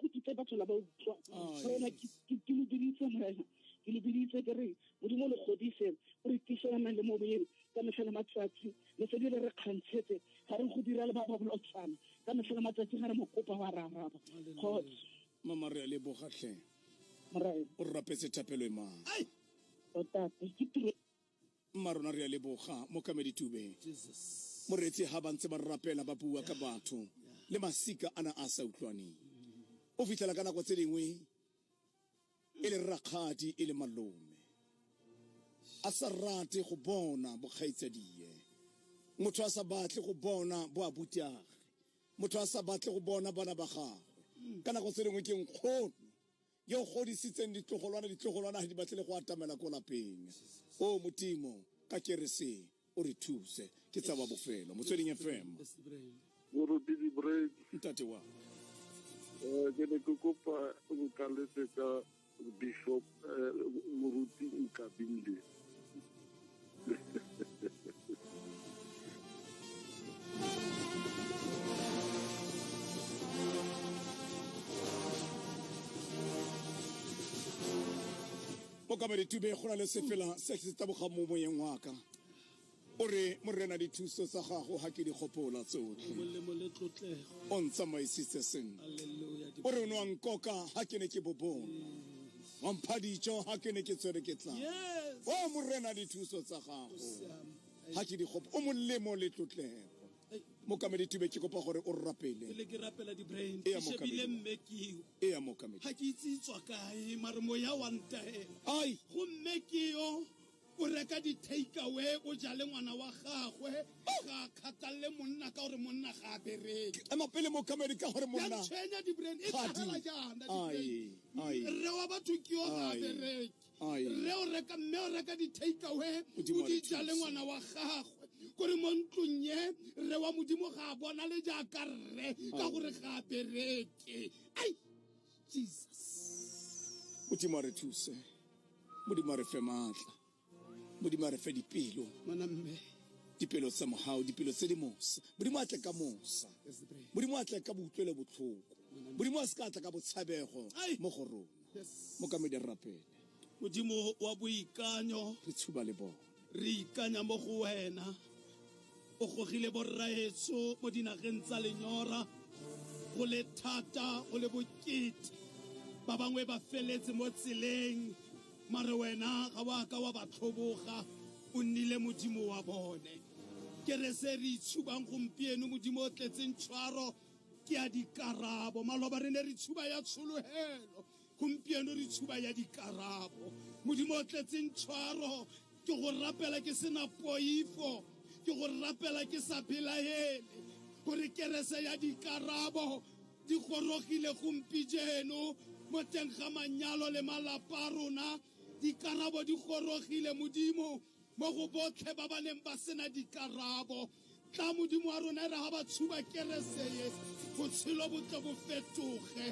go kitse batho la ba utlwa morena ke lo biditse morena ke lo biditse ke re modimo lo godise o re tiselanang le moboyeng ka metlha le matsatsi le se di le re kgantshetse ga re go dira le ba ba bolotsana ka metlha le matsatsi ga re mokopa wa ra araba kgotsa mama re a lebogatlhe o rapetse thapelo e mang tota ke tiro mma rona re a leboga mo kameditubeng moreetsi ga ba ntse ba rapela ba bua ka batho le masika a na a sa utlwaneng o fitlhela ka nako tse dingwe e le rakgadi e le malome a sa rate go bona bokgaitsadie motho a sa batle go bona bo abutiage motho a sa batle go bona bana ba gagwe ka nako tse dingwe ke nkgono yo o godisitseng ditlogolwana ditlogolwana ga di batlele go atamela ko lapeng o modimo ka kerese o re thuse ke tsa wa bofelo motsweding fm moruti dibrain ntate wa um ke ne ke kopa nkaletse ka bishop um moruti nkabile boka baritube go na le sefela se se tabogang mo moyeng wa ka o re morena dithuso tsa gago ga ke di gopola tsotlhe molemo le tlotlego o ntsamaisitse sentle Hallelujah. o re o ne wa nkoka ga ke ne ke bobona wa mpha dijo ga ke ne ke tsere ke tla Yes. o morena dithuso tsa gago Siame. ga ke dikgopo o molemo le tlotlego Hey, mokamedi tibe ke kopa gore o rapele pele ke rapela di-brain Eya, ke shebile Mokamedi. mme keo e ya mokamedi ga ke itse e tswa kae mare moya wa ntahela ai gomme keo o reka di-takeaway o jale ngwana wa gagwe ga kgathalele monna ka gore monna ga a bereke ema pele mo kamedi ka gore monna tshwenya dibrain e tlhagela jaana rre wa batho ke yo ga a bereke rre o reka mme o reka di-takeaway o di jale ngwana wa gagwe kore mo ntlong ye rre wa modimo ga a bona le jaaka rre ka gore ga a bereke ai jesus modimo a re thuse modimo a re fe maatla modimo a re fe dipelo ngwana mme dipelo tsa mogao dipelo tse di mosa modimo a tle ka mosa modimo a tle ka boutlwele botlhoko modimo a se ka tla ka botshabego mo go rona mo kamedi re rapele modimo wa boikanyo re tshuba le bone re ikanya mo go wena o gogile borraetso mo dinageng tsa lenyora go le thata go le bokete ba bangwe ba feletse mo tseleng mare wena ga wa ka wa ba tlhoboga o nnile modimo wa bone ke re se re itshubang gompieno modimo o tletseng tshwaro ke ya dikarabo maloba re ne re tshuba ya tshologelo Gompieno re tshuba ya dikarabo. Modimo o tletseng tshwaro, ke go rapela ke sena poifo, ke go rapela ke sa belaele, gore kerese ya dikarabo di gorogile gompijeno mo teng ga manyalo le malapa a rona. Dikarabo di gorogile, Modimo. mo go botlhe ba ba neng ba sena dikarabo tla modimo wa rona e re ga ba tshuba kereseye botshelo bo tle bo fetoge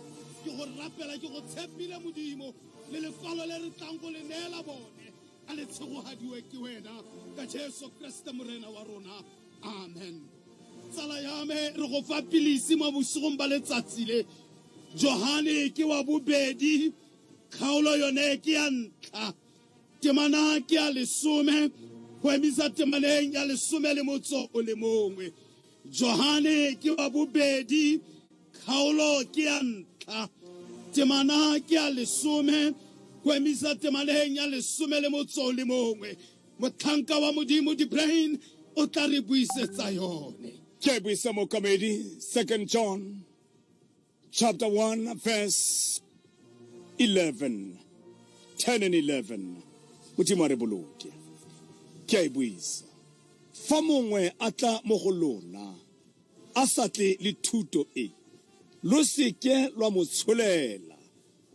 ke go rapela ke go tshepile modimo le lekwalo le re tlang go le neela bone a le tshegogadiwe ke wena ka jesu kreste morena wa rona amen tsala ya me re go fa pilisi mo bosigong ba letsatsi le johane ke wa bobedi kgaolo yone ke ya ntlha temana ke ya lesome go emisa temaneng ya lesome le motso o le mongwe johane ke wa bobedi kgaolo ke ya ntlha temana ke ya lesome go emisa temaneng ya lesome le motso o le mongwe motlhanka wa modimo dibrain o tla re buisetsa yone ke buisa mokamedi second john chapter 1 verse 11 10 and 11 modimo a re boloke ke a e buisa fa mongwe a tla mo go lona a sa tle le thuto e lo seke lwa mo tsholela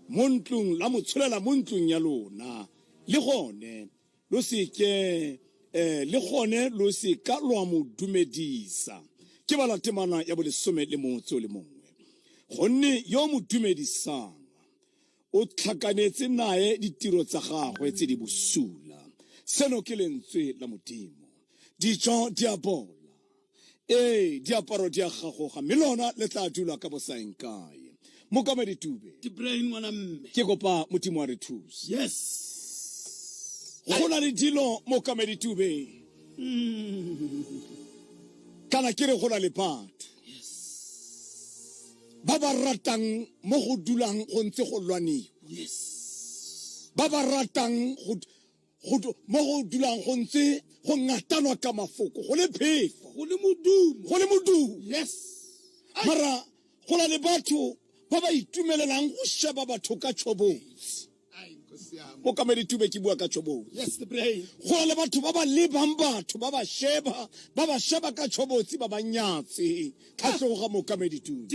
mo ntlong la mo tsholela mo ntlong ya lona le gone lo se ke eh, le gone lo se ka lwa mo dumedisa ke bala temana ya bolesome le motse o le mongwe gonne yo mo dumedisang o tlhakanetse naye ditiro tsa gagwe tse di bosula seno ke lentswe la modimo dijo di a bola ee diaparo di a gagoga mme lona le tla dula ka bosaeng kae mokamedi tube ke kopa modimo wa re thuse yes go na le dilo mokamedi tube mm. kana ke re go na le batho ba ba ratang mo go dulang go ntse go lwaniwa ba ba ratang go mo go dulang go ntse go ngatanwa ka mafoko go le phefo go le modumo go le modumo yes mara go na le batho ba ba itumelelang go sheba batho ka tšhobotsi mokamedi tube ke bua ka tšhobotsi go na le batho ba ba lebang batho ba ba sheba ba ba sheba ka tšhobotsi ba ba nyatse tlhatlhogo ga mokamedi tube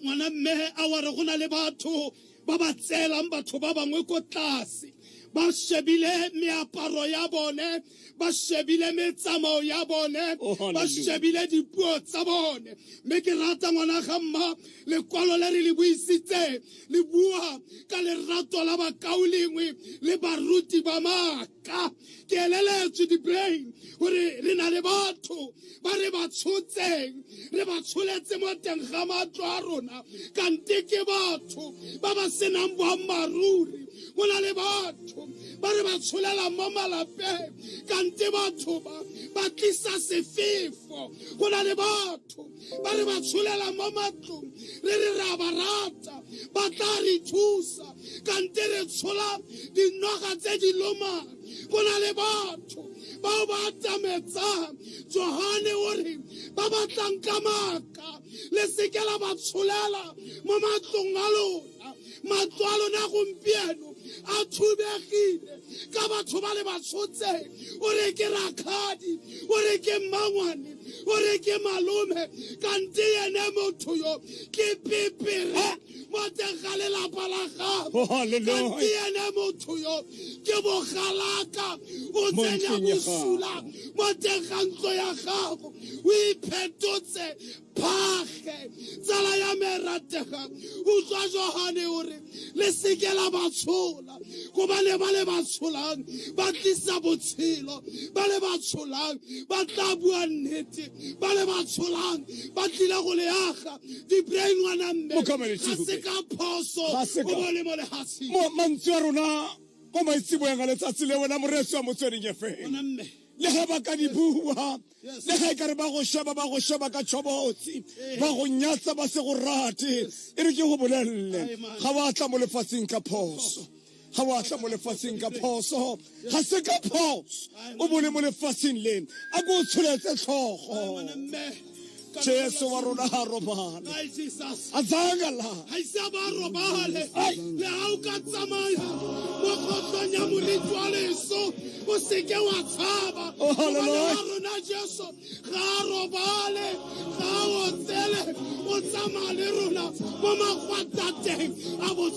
ngwana mme a ware go na le batho ba ba tseelang batho ba bangwe ko tlase ba shebile meaparo ya bone ba shebile metsamao ya bone Oh, hallelujah. ba shebile dipuo tsa bone mme ke rata ngwana ga mma lekwalo le re le buisitseng le bua ka lerato la bakaolengwe le baruti ba maaka ke eleletswe dibrain gore re na le batho ba re ba tshotseng re ba tsholetse mo teng ga matlo a rona kante ke batho ba ba senang boammaaruri go na le batho ba re ba tsholelang mo malapeng kante batho ba ba tlisa sefefo go na le batho ba re ba tsholela mo matlong re re ra ba rata ba tla re thusa kante re tshola dinoga tse di lomang go na le batho bao ba atametsang johane o re ba batlang ka maaka le seke la ba tsholela mo matlong a lona matswalo na gompieno a thubegile ka batho ba le batshotseng o re ke rakgadi o re ke mmangwane o re ke malome kante ene motho yo ke pepere mo teng ga lelapa la gago oh, kante ene motho yo ke bogalaka o tsenya bosula mo teng ga ntlo ya gago o iphetotse phage tsala ya me e ratega utswa johane o re le seke la ba tshola gobane ba le ba tsholang ba tlisa botshelo ba le ba tsholang ba tla bua nnete ba le ba tsholang ba tlile go leaga dibrei ngwana mme ga se ka phoso o bone mo lehatsheng mantswe a rona ko maitseboyang a letsatsi le wena moreetsi wa motsweding efe le ga ba ka di bua le ga e kare ba go sheba ba go sheba ka tshobotsi ba go nyatsa ba se go rate e re ke go bolelele ga wa tla mo lefatsheng ka phoso ga wa tla mo lefatsheng ka phoso ga se ka phoso o bone mo lefatsheng le a ko o tsholetse tlhogo jesu wa rona ga robale a tsaya a ise a ba robale le ga o ka tsamaya mo kgotlong ya molitsi wa leso o seke wa tshaba oh, wa rona jesu ga a robale ga a otsele o tsamaya le rona mo magwatateng a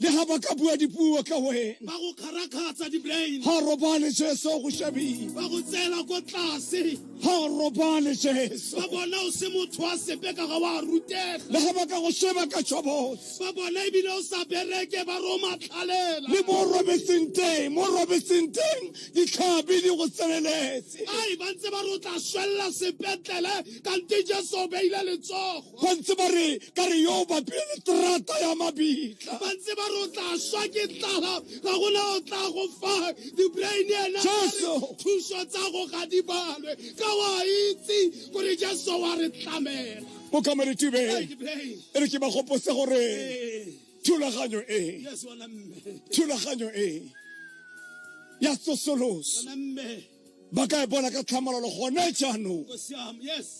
le ga ba ka bua dipuo ka wena ba go kgarakgatsa di-brain ga robale jesu go šabile ba go tseela ko tlase ga robale jesu ba bona o se motho wa sepe ka ga wa rutega le ga ba ka go sheba ka tšhobotse ba bona ebile o sa bereke ba romatlhalela le mo robetseng teng mo robetseng teng ditlhabi di go tseneletse ai ba ntse ba re o tla swelela sepetlele kante jesu o beile letsogo ba ntse ba re ka re yo bapile terata ya mabitla ba ntse ba re o tla swa ke tlala ga gona o tla go fa dibrain ena thuso tsa go ga di balwe ka wa itse gore jesu wa re tlamela o kameretube e re ke ba gopose gore thulaganyo e thulaganyo e ya tsosoloso ba ka e bona ka tlhamalalo gone jaanong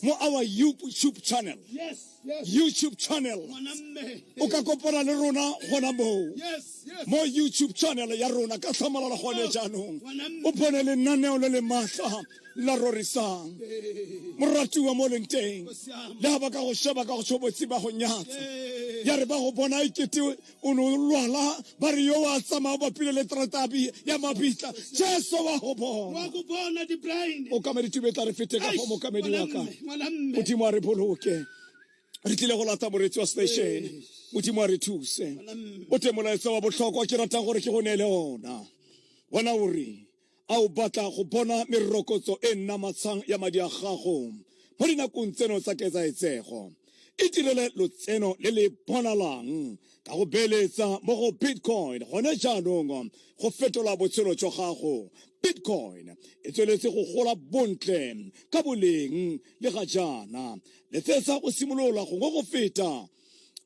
mo our youtube channel youtube channel o ka kopana le rona gona moo mo youtube channel ya rona ka tlhamalalo gone oh. jaanong o bone lenaneo le le maatla la rorisang moratiwa mo leng teng le ga ba ka go sheba ka go tshobotsi ba go nyatsa ya re ba go bona e kete o ne o lwala ba re yo wa tsamaya bapile le tratabi ya mabitla jesu wa go bona o kamedi tube tla re fete ka go mokamedi wa ka modimo a re boloke re tlile go lata moretsi wa station modimo a re thuse o te molaetsa wa botlhokwa ke ratang gore ke go neele ona bona o reng A o batla go bona merokotso e nnamatshang ya madi a gago mo dinakong tseno tsa ketsaetsego? Itirele lotseno le le bonalang ka go beeletsa mo go Bitcoin gone jaanong go fetola botshelo jwa gago. Bitcoin e tsweletse go gola bontle ka boleng le ga jaana. Letsetsa go simolola gongwe go feta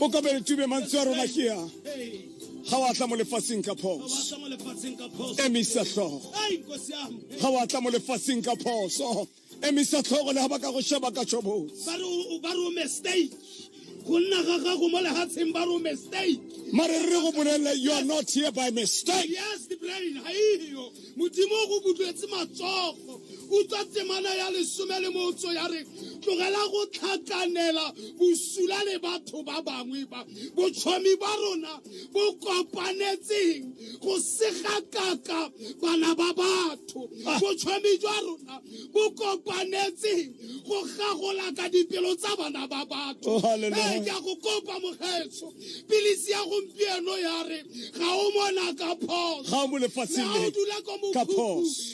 o kabele tube mantswe a rona ke ya ga wa tla mo lefatsheng ka phoso emisa tlhogo ga wa tla mo lefatsheng ka phoso emisa tlhogo le ga ba ka go sheba ka tshobotsi ba re o mistake go nna ga gago mo legatsheng ba re o mistake mare re go bolelela you are not here by mistake yes the brain ha iyo modimo o go butlwetse matsogo o tswa temana ya lesome le motso ya re tlogela go tlhakanela bosula le batho ba bangwe ba botshomi ba rona bo kopanetseng go segakaka bana ba batho ah. botšhomi jwa rona bo kopanetseng go gagola ka dipelo tsa bana ba batho oh, ee ke a go kopa mogetso pilisi ya gompieno ya re ga o mona ka phoso ga o dula ko mokhuku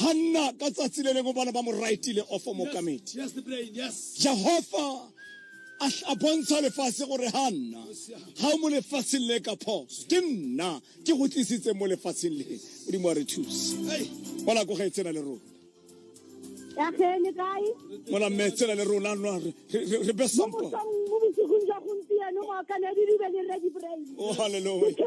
hanna ka tsatsi le lengwe bona ba mo rightile ofo mokamedi jehova a bontsha lefatshe gore ga nna ga o mo lefatsheng le ka phoso ke nna ke go tlisitse mo lefatsheng le modimo wa re thuse bona ko ga e tsena le rona mola mme tsena le rona re be sampo o halleluja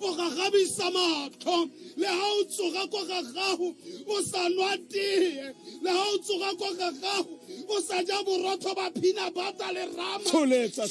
o gagabisa matlho le ga o tsoga kwa ga gago o sa nwa tee le ga o tsoga kwa ga gago o sa ja borotho ba phina bata le rama tsholetsa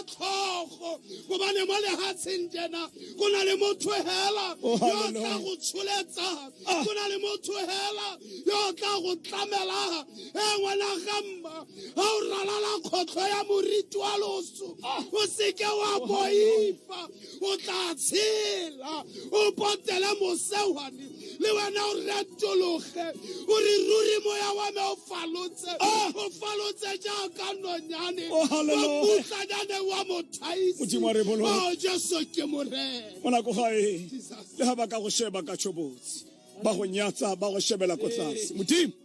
tlhogo gobane mo lehatsheng jena go na le motho hela oh, yo tla go tsholetsa ah. go na le motho hela yo tla go tlamela e ngwana gamma ga o ralala kgotlho ya moriti wa loso ah. o seke wa boifa o tla tshela o potele mosewane le wena o retologe o re ruri moya wa me o falotse ah! o falotse jaaka nonyane oh, obutlanyane wa mothaisio oh, jesu ke morena o nako gae le ga ba ka go sheba ka tshobotsi ba go nyatsa ba go shebela ko tlase modimo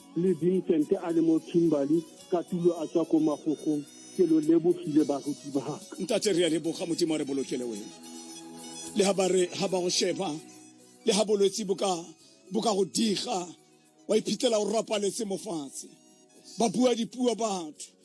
le vincent a le mo kimberly ka tulo a tswa ko magogong ke lo lebogile baruti baka ntate re a leboga modimo a re bolokele wena le ga ba re ga ba go sheba le ga bolwetse bo ka bo ka go diga wa iphitlhela o rapaletse mofatshe ba bua dipuo batho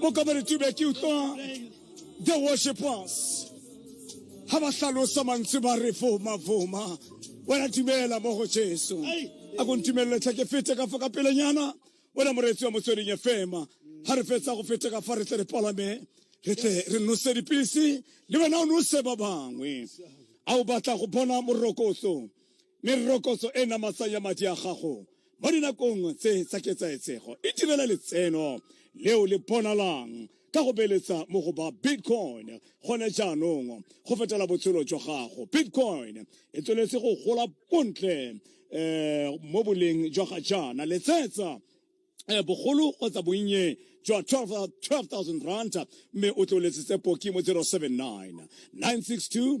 mo kabaretube ke utlwa the worshipers ha ba hlalosa mantswe ba re foma foma wena dumela mo go jesu a ko ntumelele tlha ke fete ka fa ka pelenyana wena moreetsi wa motsweding e fema ha re fetsa go fete ka fa re tle re palame re tle re nose dipilisi le wena o nose ba bangwe a o batla go bona morokotso merokotso e namatsang ya madi a gago mo dinakong tse tsa ketsaetsego e direla letseno leo le bonalang ka go beletsa mo go ba bitcoin gone jaanong go fetela botshelo jwa gago bitcoin e tsweletse go gola bontle um mo boleng jwa ga jaana letsetsa Eh, bogolo kgotsa bonnye jwa 12000 rand mme o tlo letsetse poki mo 079 962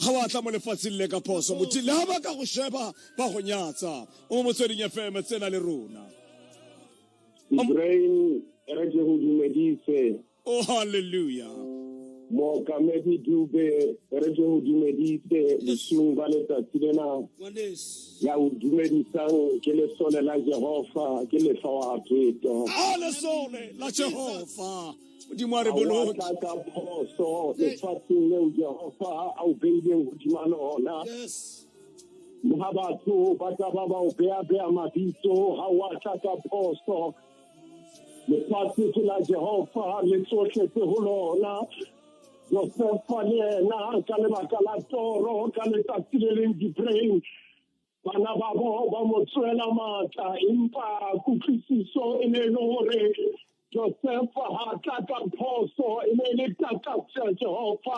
ga wa tla mo lefatsheng le ka phoso motho le ga ba ka go sheba ba go nyatsa o mo motsweding fm tsena le rona Ibrahim re ke go dumedise oh hallelujah mookamedi dube re ke go dumedise bosung ba letsatsi lena ya o dumedisang ke lesole la jehova ke lefa wa pheto a lesole la jehova modimo a re boloke tla ka phoso lefatsheng leo jehofa a o beileng godima lona yes ga batho ba tla ba ba o beya-beya mabitso ga wa tla ka phoso lefatshe ke la jehofa le tsotlhe tse go lona josefa le ena ka lebaka la toro ka letsatsi le leng dipreng bana ba bo ba mo tswela maatla empa kutlwisiso e ne e le gore josefa ga tla ka phoso e ne e le takatso ya jehova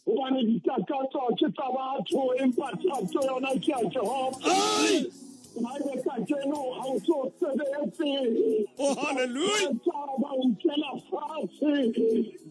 gobane ditakatso ke tsa batho empa thato yona ke ya jehova Bible sa keno ga o se o sebetse. Oh, hallelujah. Ba o nkela fatshe.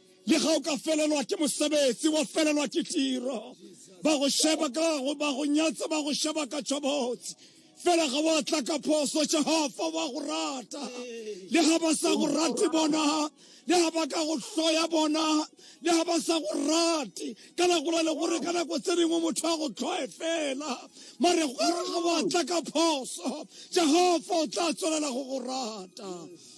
le ga o ka felelwa ke mosebetsi wa felelwa ke tiro ba go sheba ka go ba go nyatsa ba go sheba ka tshobotsi fela ga wa tla ka phoso jehova wa go rata le ga ba sa go rate bona le ga ba ka go hloya bona le ga ba sa go rate ka nako la le gore ka nako tse dingwe motho a go tlhoe fela mare gore ga wa tla ka phoso jehova o tla tswelela go go rata yes.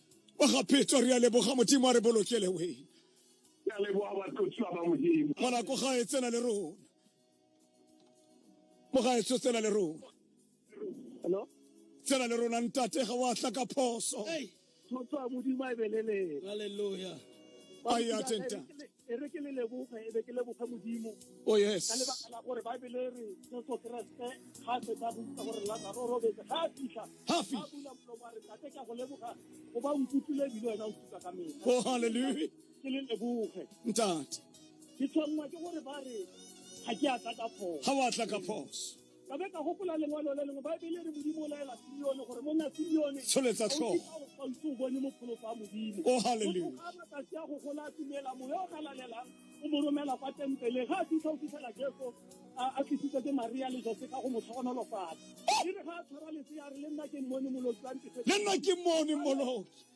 wa ga phetso re a leboga modimo a re bolokele wena ya leboga batlotsi ba ba modimo ngwana ko gae tsena le rona mo gae tsho tsena le rona hello tsena le rona ntate ga wa tla ka phoso hey. Hallelujah. Ayatenta. e re ke le leboge e be ke leboge modimo oh yes ka lebaka la gore baebele re jesu keresete ga se ka botsa gore lazaro robetse ga a fitlha ga bula molomo a re tate ka go leboga go ba nkutlwile ebile wena o thusa ka mela oh halleluja ke le leboge ntate ke tshwanngwa ke gore ba re ga ke a tla ka phoso ga wa tla ka phoso ka be ka gopola lengwalo le lengwe baebele re modimo o laela sione gore monna sione tsholetsa tlhogo gausi o bone mopholofa a modimo o oh, haleluya a matsatsi a go gola a tumela moya o ka lalelang o mo romela kwa tempele ga a fitlha o fitlhela jeso a tlisitse ke maria le jose ka go mo tlhogonolofatsa e re ga a tshwara lesea re le nna ke mmone moloki wa ntefele le nna ke mmone moloki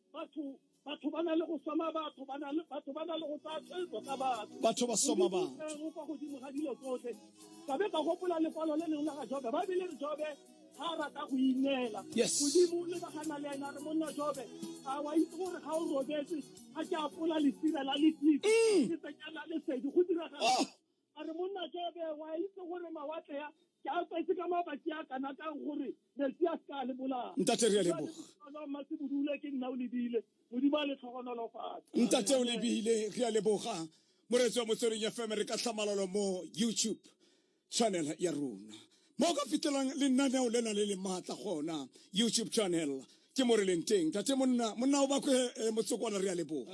batho batho ba na le go soma batho ba na le batho ba na le go tsaya tshwetso ka batho batho ba soma batho kwa godimo ga dilo tsotlhe ka be ka gopola lekwalo le lengwe la ga jobe ba bile re jobe ga a rata go ineela godimo le ka gana le ena re monna jobe a wa itse gore ga o robetse a ke apola lesira la letlitse mm. ke tsenyana lesedi go diragala oh. a re monna tsebe wa itse gore mawatle ya ke a tsetse ka mabaki a kana ka gore metsi a se ka le bolaya ntate re a leboga mma se bodule ke nna o lebile modimo a le tlhogonolo fatshe ntate o lebile re a leboga moretsi wa motsweding ya fm re ka tlhamalalo mo youtube channel ya rona mo ka fitlhelang lenaneo le na le le maatla gona youtube channel ke mo re leng teng tate monna monna o bakwe eh, motsokwana re a leboga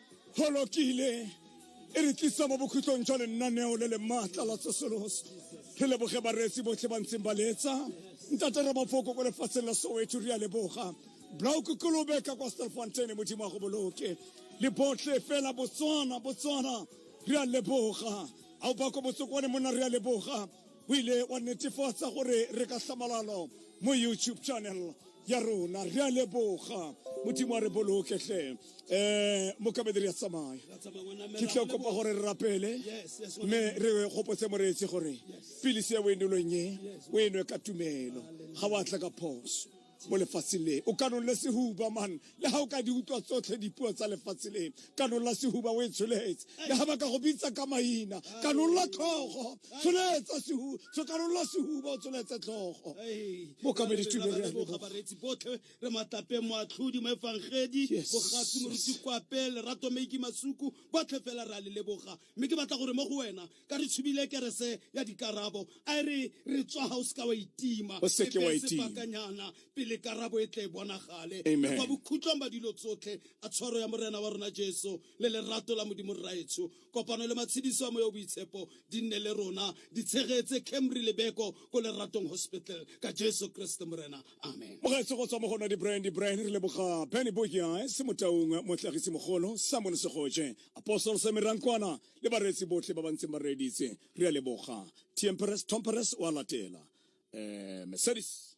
holokile e re tlisa mo bokhutlong jwa lennaneo le le maatla la tsosoloso re leboge bareetsi botlhe ba ntseng ba leetsa ntate re mafoko ko lefatsheng la soweto re a leboga blau kokolobe ka kwa stelfonteine modimo wa go boloke le botlhe fela botswana botswana re a leboga a o ba ko botsokwane monna re a leboga o ile wa netefatsa gore re ka tlhamalalo mo youtube channel ya rona re a leboga modimo a re boloke tlhe um mokabedi re ya tsamaya ke tlo kopa gore re rapele mme re gopotse moreetsi gore pilisi ya boenelong e o enwe ka tumelo ga wa tla ka phoso mo lefatshe le o kanole sehuba man le ga o ka di utlwa tsotlhe dipuo tsa lefatshe le kanola sehuba o e tsholetse le ga ba ka go bitsa ka maina kanola tlhogo tsholetsa sehu so kanola sehuba o tsholetse tlhogo bokamedi tuberegabaretsi botlhe re matape moatlhodi mo efangedi bogatsi moruti kwape lerato maiki masuku botlhe fela re a le leboga Mme ke batla gore mo go wena, ka re tshubile kerese ya dikarabo, a e re re tswa ga o seka wa itima, O seke wa e beye itima. sebakanyana pele karabo e tle e bonagale. Amen. Le kwa bokhutlong ba dilo tsotlhe, a tshwaro ya Morena wa rona Jesu le lerato la Modimo Rraetsho, kopano le matshidiso a Moya o Boitshepo di nne le rona, di tshegetse Camry le Beko ko Leratong Hospital, ka Jesu Kreste Morena. Amen. Mogaetsho go tswa mo go nna di-brand di-brand re leboga Benny Boyes, Motaung, Motlhagisi Mogolo, Samuel Segoje, apostol seme rankwana le bareetsi botlhe ba ba ntseng ba reeditse re a leboga tmperes tomperes o a latela um mercedes